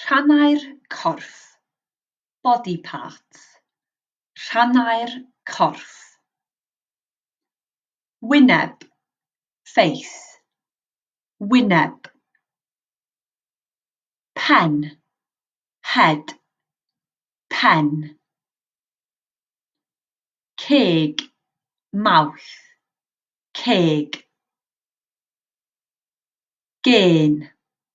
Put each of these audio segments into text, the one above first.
Rhannau'r corff, body parts, rhannau'r corff. Wyneb, face, wyneb. Pen, head, pen. Ceg, mouth, ceg. Gên,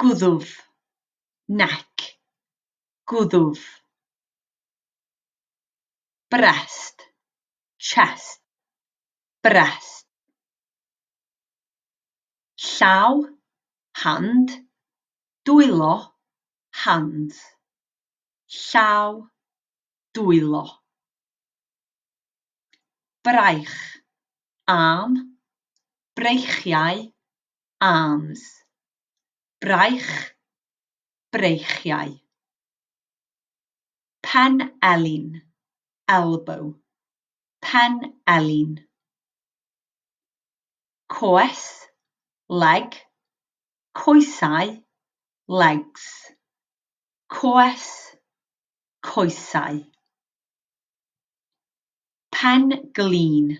Gwddf. Neck. Gwddf. Breast. Chest. Breast. Llaw. Hand. Dwylo. Hands. Llaw. Dwylo. Braich. Arm. Breichiau. arms, braich, breichiau. Pen elin, elbow, pen elin. Coes, leg, coesau, legs. Coes, coesau. Pen glin,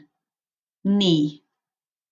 knee,